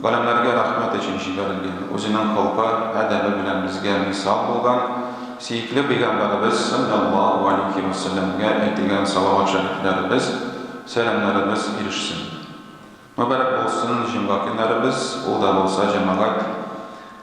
Галәмнәргә рәхмәт өчен җибәрелгән, үзенең холкы, әдәбе белән безгә мисал булган сөекле пәйгамбәребез салләллаһу галәйһи вә сәлләмгә әйтелгән салават шәрифләребез, сәламнәребез ирешсен. Мөбарәк булсын җомга көннәребез, ул да булса җәмәгать.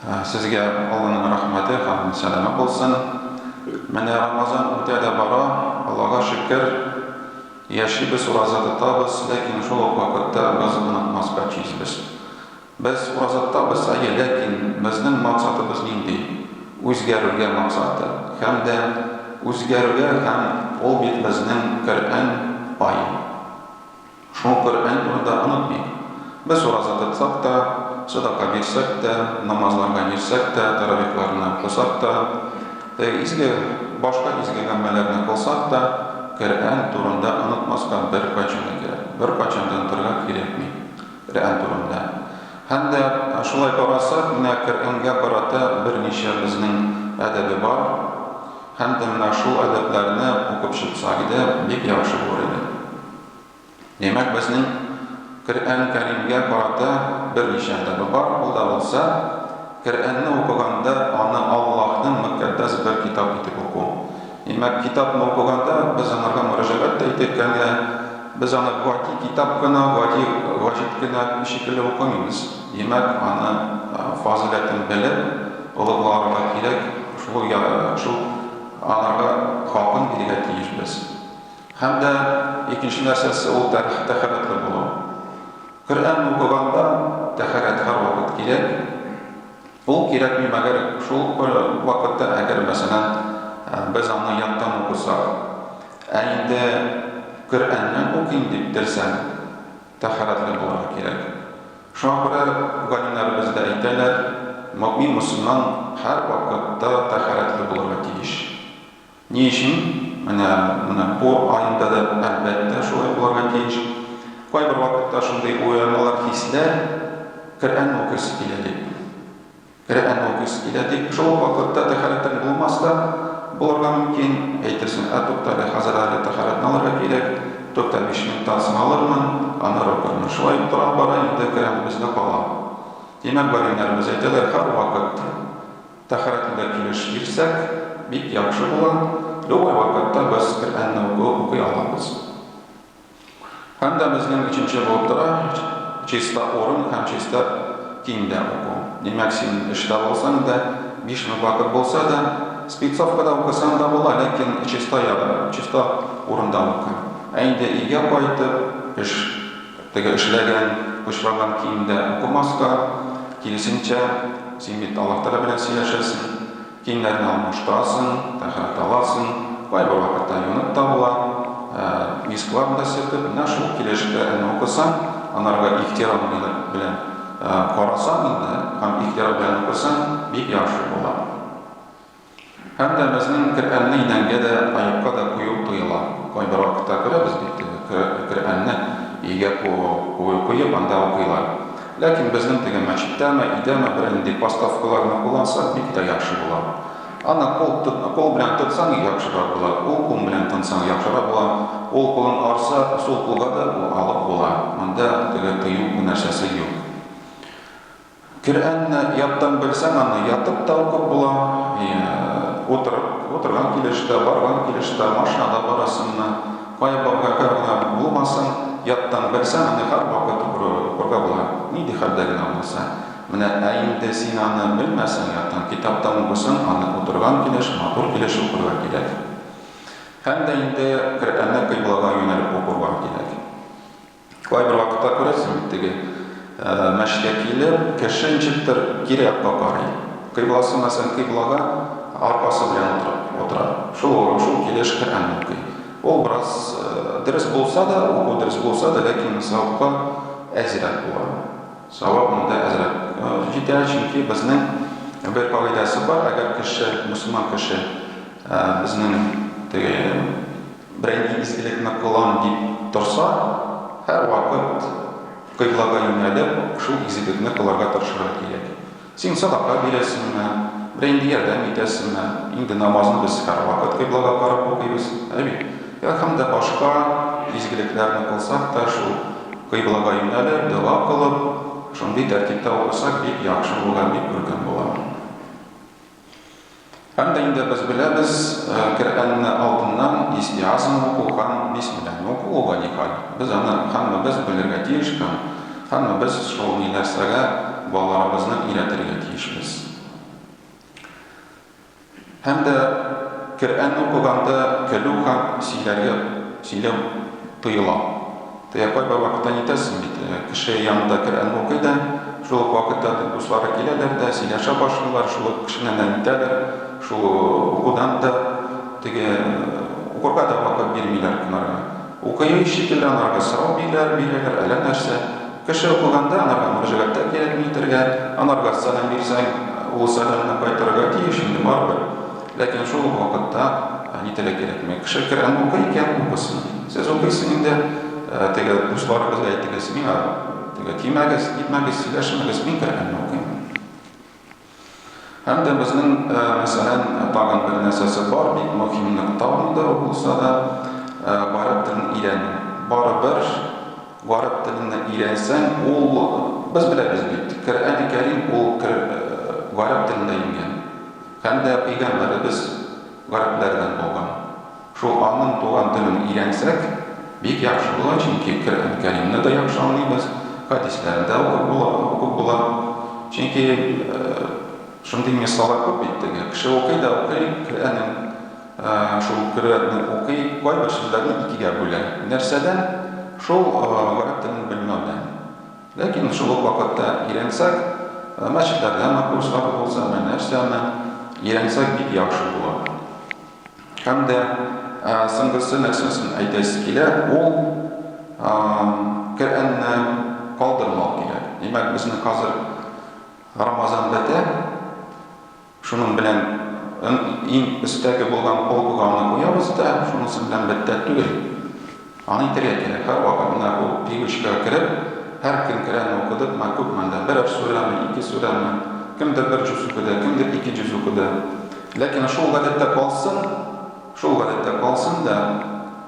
Сезгә Алланың рәхмәте һәм сәламе булсын. Менә Рамазан үтә дә бара, Аллага шөкер, яшибез, ураза тотабыз, ләкин шул ук вакытта без онытмаска тиешбез. Без ураза тотабыз, әйе, ләкин безнең максатыбыз нинди? Үзгәрүгә максаты һәм дә үзгәрүгә һәм ул бит безнең Коръән ай. Шул Коръән турында онытмыйк. Без ураза тотсак та, сәдака бирсәк тә, намазларга йөрсәк тә, тәравихларны укысак та, теге изге, башка изге гаммәләрне кылсак та, Коръән турында онытмаска беркайчан да кирәк, беркайчан да онытырга кирәкми Коръән турында. Һәм дә шулай карасак, менә Коръәнгә карата берничә безнең әдәбе бар. Һәм дә менә шул әдәпләрне укып чыксак иде, бик яхшы булыр иде. Димәк, безнең Коръән Кәримгә карата берничә әдәбе бар, ул да булса, Коръәнне укыганда аны Аллаһның мөккәддәс бер китап итеп уку. Димәк, китапны укыганда без аңарга мөрәҗәгать тә итик, әмма без аны гади китап кына, гади ваҗид кенә шикелле укымыйбыз. Димәк, аны фазыйләтен белеп, олугларга кирәк, шул ук аңарга хакын бирергә тиешбез. Һәм дә икенче нәрсәсе ул тәһарәтле булу. Коръән укыганда тәһарәт һәрвакыт кирәк. Ул кирәкми, мәгәр шул бер вакытта, әгәр, мәсәлән, без аны яттан укысак. Ә инде Коръәнне укыйм дип телсәң, тәһарәтле булырга кирәк. Шуңа күрә галимнәребез дә әйтәләр, мөэмин мөселман һәрвакытта тәһарәтле булырга тиеш. Ни өчен? Менә, менә бу аенда да, әлбәттә, шулай булырга тиеш. Кайбер вакытта шундый уйланулар, хисләр, Коръән укыйсы килә дип. Коръән укыйсы килә дип. Шул ук вакытта тәһарәтең булмас та булырга мөмкин. Әйтерсең, ә туктале, хәзер әле тәһарәтне алырга кирәк, тукта, биш минуттан соң алырмын, аннары укырмын. Шулай тора-бара инде Коръәнебез дә кала. Димәк, галимнәребез әйтәләр, һәрвакыт, Тәһарәтледә килеш бирсәк, бик яхшы була, любой вакытта без Коръәнне уку укый алабыз. Һәм дә безнең өченче булып тора чиста урын һәм чиста киемдә уку. Димәк, син эштә булсаң да, биш минут вакыт булса да, спецовкада укысаң да була, ләкин чиста ягы, чиста урында укы. Ә инде өйгә кайтып, эш. Теге эшләгән, пычраган киемдә укымаска, киресенчә, син бит Аллаһ Тәгалә белән сөйләшәсең, киемнәрне алмаштырасың, тәһарәт аласың, кайбер вакытта юынып та була, ә мисклар да сөртеп, менә шул килешкә әнә укысаң, анарга ихтирам белән карасаң инде һәм ихтирам белән укысаң, бик яхшы була. Һәм дә безнең Керәнне идәнгә дә, аекка да кую тыела. Кайбер вакытта күрәбез бит теге Керәнне өйгә куеп, анда укыйлар. Ләкин безнең теге мәчеттәме, өйдәме бернинди поставкаларны куллансак, бик тә яхшы була. Аны кул белән тотсаң, яхшырак була, ул кул белән тынсаң, яхшырак була. Ул кулын арса, сул кулга да алып була. Монда теге тыю нәрсәсе юк. Коръәнне яттан белсәң, аны ятып та укып була, утырып, утырган килеш тә, барган килеш тә, машинада барасың да, кая барганда гына булмасын, яттан белсәң, аны һәрвакыт укырга була, нинди хәлдә генә булса. Менә, ә инде син аны белмәсәң, яттан, китаптан укыйсың, аны утырган килеш, матур килеш укырга кирәк. Һәм дә инде Коръәнне кыйблага юнәлеп укырга кирәк. Кайбер вакытта күрәсең бит теге мәчкә килеп, кеше ничектер кире якка карый. Кыйбласы, мәсәлән, кыйблага аркасы белән утырып утыра. Шул урын, шул килеш Коръән укый. Ул бераз дөрес булса да, уку дөрес булса да, ләкин савапка әзрәк була. Савап монда әзрәк җитә, чөнки безнең бер кагыйдәсе бар, әгәр кеше, мөселман кеше безнең теге Берәйне изгелекне кылам дип торса, һәрвакыт кыйблага юнәлеп, шул изгелекне кылырга тырышырга кирәк. Син садака бирәсеңме, берәйнди ярдәм итәсеңме? Инде намазны без һәрвакыт кыйблага карап укыйбыз, ә бит? Йә һәм дә башка изгелекләрне кылсак та, шул кыйблага юнәлеп, дога кылып, шундый тәртиптә укысак, бик яхшы була, бик күркәм була. Һәм дә инде без беләбез, э, Коръәнне алдыннан истиазм уку һәм бисмилләһне уку ул да ни хәл? Без аны һәммәбез белергә тиеш һәм һәммәбез шул ни нәрсәгә балаларыбызны өйрәтергә тиешбез. Һәм дә Коръәнне укыганда көлү һәм сөйләргә сөйләү тыела. Тыя кай бер вакытта нитәсең бит, кеше янында Коръән укый да, шул ук вакытта дуслары киләләр дә, сөйләшә башлыйлар, шул ук кешеннән дә нитәләр, шул укудан да, теге укырга да вакыт бирмиләр анарга. Укыйм шикелле анарга сорау бииләр, бирәләр, әллә нәрсә. Кеше укыганда анарга мөрәҗәгатьтә кирәкми итәргә, анарга сәлам бирсәң, ул сәламне кайтарырга тиеш инде барыбер. Ләкин шул ук вакытта ни теләк кирәкми. Кеше Коръәнне укый икән, укысын. Сез укыйсыз инде, теге дусларыгызга әйтегез, миңа теге тимәгез, нитмәгез, сөйләшмәгез, мин Коръәнне укыйм. Һәм дә безнең, мәсәлән, тагын бер нәрсәсе бар, бик мөһим нокта монда булса да, гарәп телен өйрәнү. Барыбер гарәп телене өйрәнсәң, ул без беләбез бит, Коръәни Кәрим ул гарәп телендә иңгән. Һәм дә пәйгамбәребез гарәпләрдән булган. Шул аның туган телен өйрәнсәк, бик яхшы була, чөнки Коръән Кәримне дә яхшы аңлыйбыз, хәдисләрен дә укып була, укып була. Чөнки шундый мисаллар күп бит теге, кеше укый да укый Коръәнен, шул Коръәнне укый, кайбер сүзләрне икегә бүлә. Нәрсәдән? Шул гарәп телен белмәүдән. Ләкин шул ук вакытта өйрәнсәк, мәчетләрдә ана курслары булса, менә нәрсә аны өйрәнсәк бик яхшы була. Һәм дә соңгысы нәрсәсен әйтәсе килә, ул Коръәнне калдырмау кирәк. Димәк, безнең хәзер Рамазан бетә, Шуның белән иң өстәге булган полкуганны куябыз да, шунысы белән бетә түгел. Аны әйтергә кирәк, һәрвакыт менә бу привычкага кереп, һәр көн Коръәнне укыдыкмы, күпме анда, берәр сүрәме, ике сүрәме, кемдер бер җүз укыды, кемдер ике җүз укыды. Ләкин шул гадәттә калсын, шул гадәттә калсын да.